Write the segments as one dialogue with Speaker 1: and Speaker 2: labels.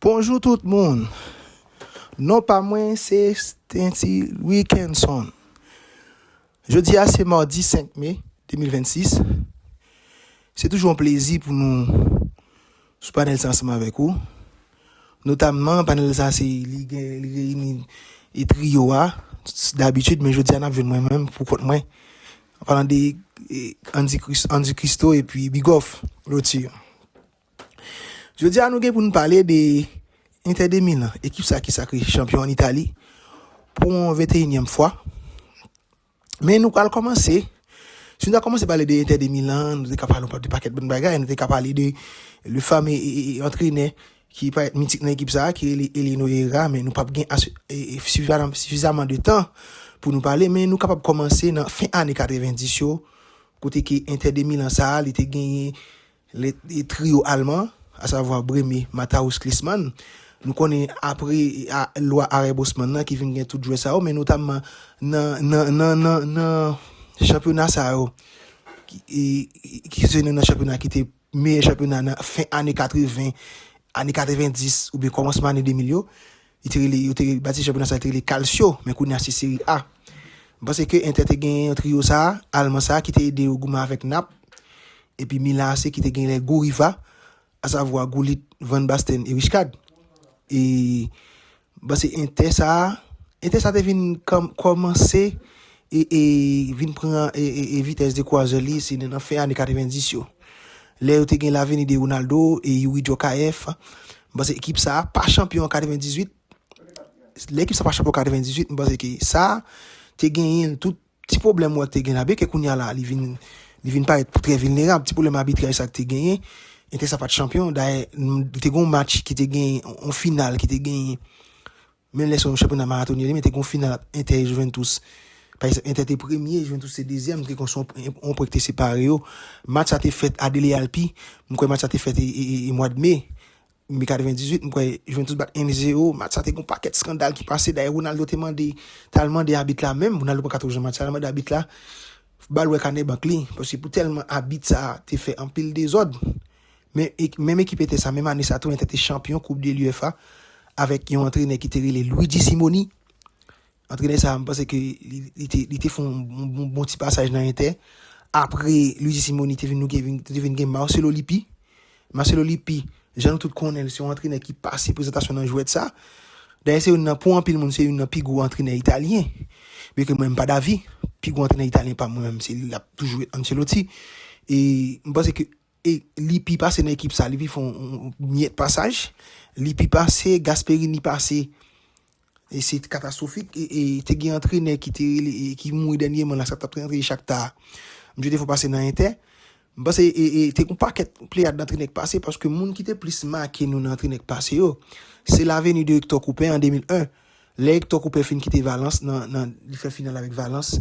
Speaker 1: Bonjou tout moun! Non pa mwen se Stainty Wilkinson. Jodi a se mardi 5 me 2026. Se toujou yon plezi pou nou sou panel sa ansanm avèk ou. Notamman panel sa se li gen li reyini e trio a d'habitude men jodi a n ap jwenn mwen menm pou kont mwen. An palan de Andy Christo epi Bigòf Lotir. Jodi a nou gen pou nou pale de Inter de Milan, ekip sa ki sakre chanpyon an Itali pou yon 21 nyèm fwa. Men nou pral komanse, si nou ta komanse pale de Inter de Milan, nou te ka pale de paket bon bagay, nou te ka pale de le fame antrenè ki pa et mitik nan ekip sa, ki rele Elino Era, men nou pap gen sifizaman de tan pou nou pale, men nou kapab komanse nan fin ane 90 yo, kote ki Inter de Milan sa, li te genyen Le trio alman, asavwa Brehme, Matthaus, Klisman, nou konnen apre lwa Arèb-Osman nan ki vin gen tout jwè sa yo, men notamman nan chanpyona sa yo, ki se nan chanpyona ki te meyè chanpyona nan fen ane 80, ane 90 oubyen kòmansman ane 2000 yo. Li te rele, yo te rele, batiste chanpyona sa a te rele Calcio, men kounye a se Serie A. M panse ke Inter te gen yon trio sa a, Alman sa a ki te ede yo goumen avèk Naples, epi Milan AC ki te gen les gros rivaux, a savoir Gullit, Van Basten et Rijkaard. E, m panse Inter sa a, Inter sa a te vin kòmanse e vin pran vitès de kwazè li se nan fen ane 90 yo lè yo te gen laveni de Ronaldo e Youri Djorkaeff m panse ekip sa pa chanpyon an 98 lè ekip sa pa chanpyon an 98 m panse ke sa te genyen tout ti pwoblèm wè te gen la byen ke kounya la li vin li vin parèt pou trè vilnerab ti pwoblèm abitraj sa te genyen entè sa pat chanpyon dayè te gen yon match ki te genyen yon final ki te genyen Menm lè son chanpyona maratonyen li men te gen yon final ant Entè e Juventus. Pa egzanp Entè te premye e Juventus te dezyèm te kon son yon pwen ki te separe yo. Match sa te fèt a Dele Alpi, m kwè match sa te fèt e e mwad Me, Me 98 m kwè Juventus bat 1 e 0, match sa te gen yon pakèt skandal ki pase dayè Ronaldo te mande t al mande abit la menm, Ronaldo pa ka twò jwenn match sa, l al mande abit la bal wè kanè bank li paske pou tèlman abit sa te fè anpil dezòd. Menm ekip Entè sa, menm ane sa tou Entè te chanpyon koup de l'UFA avèk yon antrenè ki te rele Luigi Simoni. Antrenè sa, m panse ke li te fon bon ti pasaj nan Entè. Apre Luigi Simoni te vin gen Marcelo Lippi. Marcelo Lippi, jan nou tout konnen l, se yon antrenè ki pase prezantasyon nan jwèt sa. Dayè se yon nan pou anpil moun se yon nan pi gwo antrenè italyen. Byen ke mwen m pa davi, pi gwo antrenè italyen pa mwen menm se li l ap toujou Ancelotti. E m panse ke E li pi pase nan ekip sa, li pi fè yon miyèt pasaj, li pi pase, Gasperini pase, e se katastwofik, e te gen antrenè ki te rele, ki mouri dènyeman la, sa tap antre Chakta a, misye te fè yon pase nan Entè, m panse e, e te gen yon pakèt pleyad antrenè ki pase, paske moun ki te plis make nou nan antrenè ki pase yo, se la veni de Ektò Koupè an 2001, lè Ektò Koupè fin kite Valans nan, nan, li fè final avèk Valans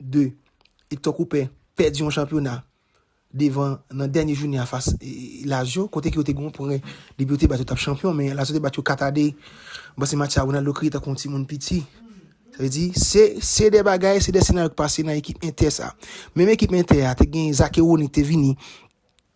Speaker 1: 2, Hector Cooper pèdi yon chanpyona devan nan dènye jounen an fas Lazio, kote ke yo te gen yon pwen depi yo te bat yo tap chanpyon, men Lazio te bat yo 4 a 2, bon se match sa Ronaldo kriye tankou yon timoun piti, sa vle di se se 2 bagay, se 2 senaryo ki pase nan ekip Inter sa. Menm ekip Inter a te gen Zakewonik te vini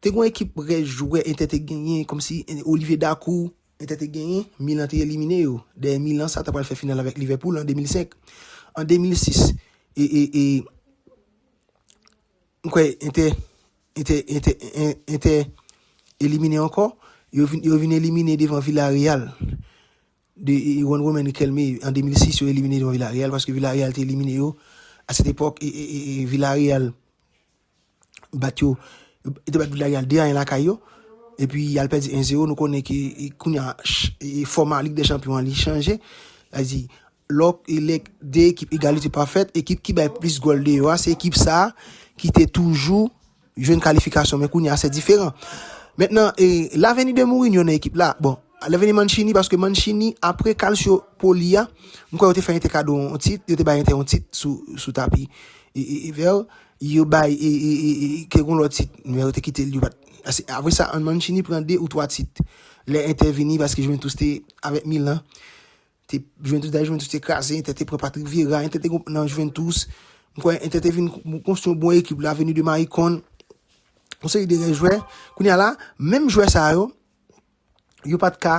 Speaker 1: Te gen yon ekip rès jwè Entè te genyen kòmsi Olivier Dacour. Entè te genyen, Milan te elimine yo. Dayè Milan sa ta pral fè final avèk Liverpool an 2005. An 2006, e, e, e, m kwè Entè, Entè, Entè, En, Entè elimine ankò. Yo vin, yo vin elimine devan Villarreal de Juan Román Riquelme an 2006. Yo elimine devan Villarreal paske Villarreal te elimine yo. A sèt epòk, e, e, e, e, Villarreal. bat yo, yo te bat Villarreal 2 a 1 lakay yo, epi yal pèdi 1 zero, nou konnen ke kounye a, fòma lig dè chanpyon an li chanje, sa vle di, lò, lè 2 ekip egalite pa fèt, ekip ki bay plis gòl deyò a, se ekip sa, ki te toujou, jwenn kalifikasyon, men kounye a se diferan, mentnan, e, laveni de Mourinho nan ekip la, bon, laveni Mancini, paske Mancini, apre kalsyo poli a, m kwè yo te fè Inter kado yon tit, yo te bay Inter yon tit sou, sou tapi, e, e, e vè yo. Yo bay e, e, e, e, kèk yon lòt tit, men yo te kite l, yo pa t. Ase, apre sa, An Mancini pran 2 ou 3 tit lè Inter vini paske Juventus te, avèk Milan, te, Juventus, dayè Juventus te kraze, Inter te pran Patrick Vieira, Inter te gon, nan Juventus, m kwè Inter te vin kon- konstwi yon bon ekip, L'avenue de Maicon, yon seri de rè jwè. Kounye a la, menm jwè sa yo, yo pa t ka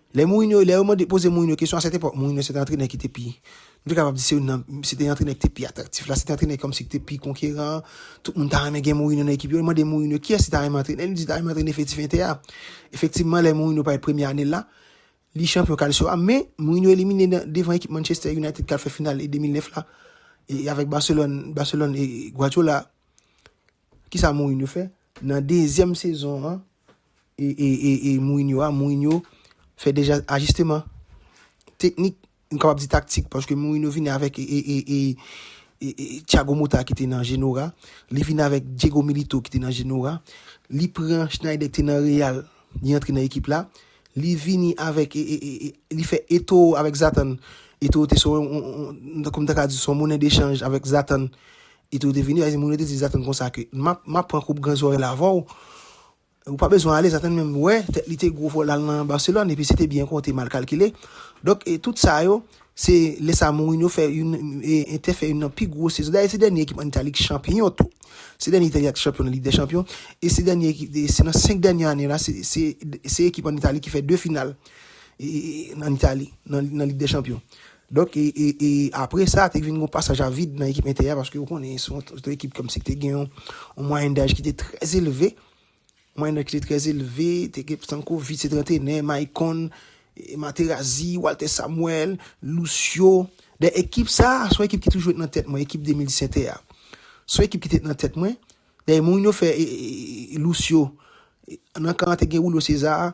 Speaker 1: Lè Mourinho, lè yo mande poze Mourinho kesyon a sèt epòk, Mourinho se te antrenè ki te pi, nou te kapab di se youn nan, se te antrenè ki te pi atraktif la, se te antrenè kòmsi ki te pi konkeran, tout moun ta renmen gen Mourinho nan ekip yo, yo mande Mourinho kiyès li ta renmen antrene, li di li ta renmen antrene Efektif Inter a. Efektivman lè Mourinho pale premye ane l la, li chanpyon Calcio a, men Mourinho elimine nan devan ekip Manchester United k al fè final e 2009 la e avèk Barcelone, Barcelone e Guardiola, Kisa Mourinho fè? Nan dezyèm sezon an e Mourinho a, Mourinho fè deja ajisteman teknik, m kapab di taktik, paske Mourinho vini avèk Thiago Motta ki te nan Genoa, li vini avèk Diego Milito ki te nan Genoa, li pran Schneider ki te nan Real, li antre nan ekip la, li vini avèk, li fè Eto'o avèk Zlatan, Eto'o te son, kòm ta ka di, son monnen dechanj avèk Zlatan, Li te rete vini, a di moun yo te di Zaten konsa ke, Map, map pran koup gran zòrèy la avè w, ou pa bezwen ale, Zaten menm wè, tèt li te gwo fò l al nan Barcelone, epi se te byen konte mal kalkile. Donk, e, tout sa yo, se lè sa Mourinho fè youn, e, Entè fè youn nan pi gwo sezon, dayè se dènye ekip an Itali ki chanpiyon tou, se dènye Itali a ki chanpiyon nan Lig dè Chanpiyon, e se dènye ekip, e, se nan 5 dènye ane la, se, se, se ekip an Itali ki fè 2 final, e, e, an Itali, nan, nan Lig dè Chanpiyon. Donk e e e apre sa te vin gon pasaj a vid nan ekip Entè a paske ou konnen se yon ekip kòm si ki te gen yon mwayèn daj ki te trè elve, mwayèn daj ki te trè elve, te gen Stankovic se te antrenè, Maicon, Materazzi, Walter Samuel, Lucio. Dayè ekip sa a se yon ekip ki toujou ret nan tèt mwen, ekip 2010 Entè a. Se yon ekip ki te ret nan tèt mwen. Dayè Mourinho fè e e e Lucio nan kan an te gen Julio César,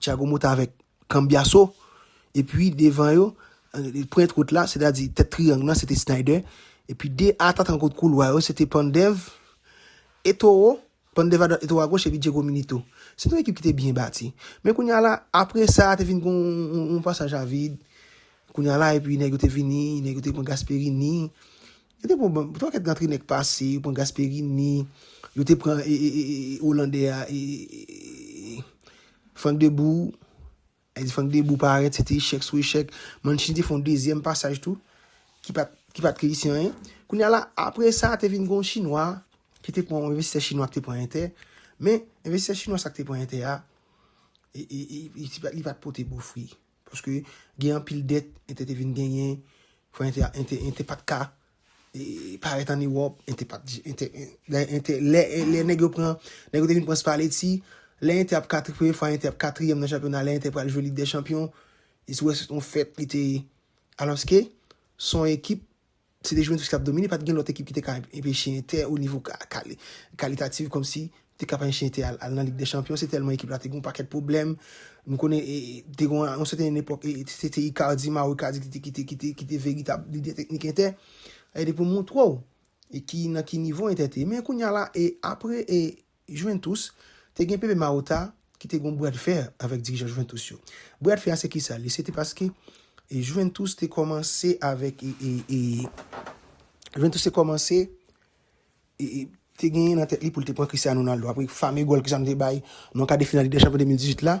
Speaker 1: Tiago Mota avèk Cambiasso, epi devan yo, pwent wout la, sètadi tèt triyang nan, se te Sneijder, epi 2 atakan kot koulwa yo, se te Pandev, Eto'o, Pandev adwat, Eto'o agoch, epi Diego Milito. Se te yon ekip ki te byen bati. Men kounye a la, apre sa, te vin gen yon pasaj a vid, kounye a la, epi nèg yo te vini, nèg yo te pran Gasperini, Yo te pran banm, twa kèt nan trinèk pase, yo pran Gasperini, yo te pran e, e, e, e, e, Olandè a, e, e, e, e, e, Frank Debou, lè di Frank Debou parèt, se te echèk sou echèk, Mancini te fè yon dezyèm pasaj tou, ki pa t, ki pa t reyisi anyen. Kounye a la, apre sa, te vin gen yon chinwa, ki te pran, yon envestisè chinwa ki te pran Entè, men, envestisè chinwa sa ki te pran Entè a, e, e, e, li pa t pote bon fwi. Paske gen anpil dèt ente te vin genyen, fwa ente, ente, ente pat ka e parèt an Ewòp, ente pat, ente, lè ente, lè, lè nèg yo pran, nèg yo te vin pran Spalletti, lè ente ap katri, premye fwa ente ap katriyèm nan chanpyona, lè ente pral jwe Lig dè chanpyon, e si w wè se te yon fèt li te, alòske se yon ekip Se te Juventus ki t ap domine, pa t gen lòt ekip ki te ka enpeche Inter o nivo kalitatif kòmsi te ka pa enche Inter al nan Lig dè Chanpyon, se tèlman ekip la te gen yon pakèt pwoblèm. Nou konnen te gen yon sèten epòk se te Icardi, Mauro Icardi ki te veritab lidè teknik Inter. Pou m montre w nan ki nivo Inter te ye. Men kounya la, apre. Juventus te gen Pepe Marotta ki te gen yon bradfè avèk dirijan Juventus yo. Bradfè a se kisa li? Se te paske Juventus te kòmanse avèk Juventus te kòmanse te genyen nan tèt li pou l te pran Cristiano Ronaldo apre fame gòl Cristiano te bay nan kade final Ligue des Champions 2018 la.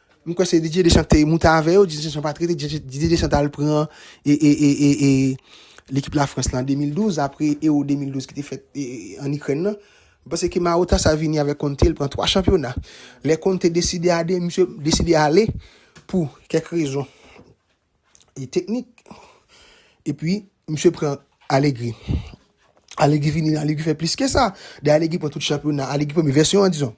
Speaker 1: M kwè se Didier Deschamps ki te moute avè yo, Didier Deschamps pa t rete, Didier Deschamps t al pran lekip Lafrans lan an 2012, apre Ewo 2012 ki te fèt ann Ikrèn lan. M panse ke Marotta sa vini avèk Conte, l pran 3 chanpyona. Lè Conte deside ade, misye deside ale pou kèk rezon teknik, epi misye pran Allegri. Allegri vini, Allegri fè plis ke sa. Dayè Allegri pran tout chanpyona, Allegri premye vèsyon an dizon.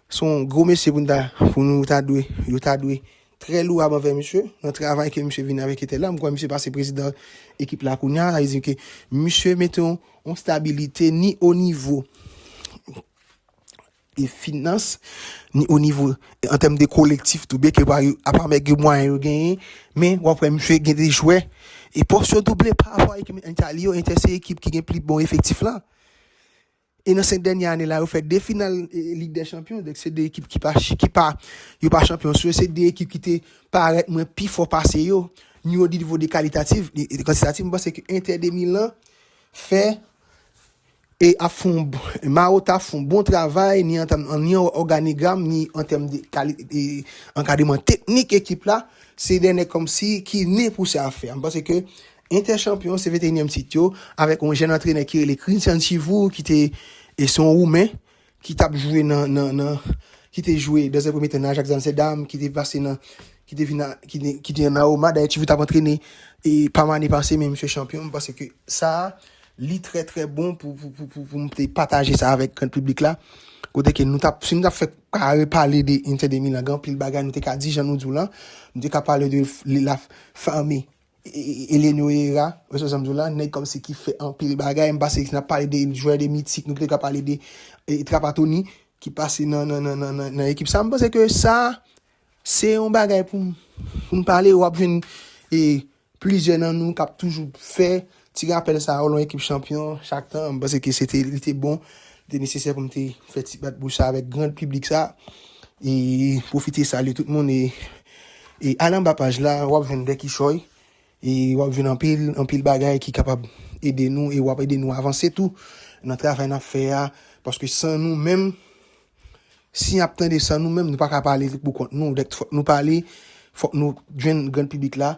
Speaker 1: Son gwo mesye pou nou ta pou nou ta dwe yo ta dwe trè louab anvè misye nan travay ke misye vin avèk etèl la m kwè misye pase prezidan ekip la kounya sa vle di ke misye mete yon yon stabilite ni o nivo e finans ni o nivo an tèm de kolektif tou byen ke pa yo apa mèg yo mwayen yo genyen men w ap wè misye gen de jwè e pòs yo double pa rapò a ekip Entali yo Entè se ekip ki gen pli bon efektif la. E nan 5 dènye ane la yo fè 2 final Lig dè Chanpyon, donk se 2 ekip ki pa yo pa chanpyon sou yo, se 2 ekip ki te parèt mwen pi fò pase yo, ni o nivo de kalitatif, ni kantitatif, mwen panse ke Inter de Milan fè e ap fè yon, Marotta ap fè yon bon travay, ni an tèm, ni an òganigram, ni an tèm de kali, e ankadreman teknik ekip la, se 2 nèg kòmsi ki ne pou sa a fè a, mwen panse ke Inter chanpyon se 21 èm tit yo avèk yon jèn antrenè ki rele Christian Chivour ki te e se yon woumen ki tap jwe nan nan nan ki te jwe dans un premier temps nan Ajax Amsterdam ki te pase nan ki te vin ki te nan Roma dayè Chivour tap antrene e Parma ane pase men misye chanpyon m panse ke sa li trè trè bon pou pou pou pou pou m te pataje sa avèk gran piblik la kote ke nou tap si nou tap fè kare pale de Inter de Milan gen anpil bagay nou te ka di jan nou di w lan nou te ka pale de li la fame Eleno Herrera, wè sa m di w la, nèg kòmsi ki fè anpil bagay, m pase n ap pale de jwè de mitik, nou te ka pale de Trapattoni ki pase nan nan nan nan nan ekip sa, m panse ke sa se yon bagay pou m pou m pale, w ap jwenn e plizyè nan nou k ap toujou fè Ti rapèl sa yo lan ekip chanpyon chak tan, m panse ke se te, li te bon, li te nesesè pou m te fè ti bat bouch sa avèk grand piblik sa. E pwofite salye tout moun e al anba paj la w ap jwenn de kichòy e w ap jwenn anpil, anpil bagay ki kapab ede nou e w ap ede nou avanse tou nan travay n ap fè a. Paske san nou menm, si n ap tande san nou menm nou pa ka pale pou kont nou. Dèk fòk nou pale, fòk nou jwenn grand piblik la.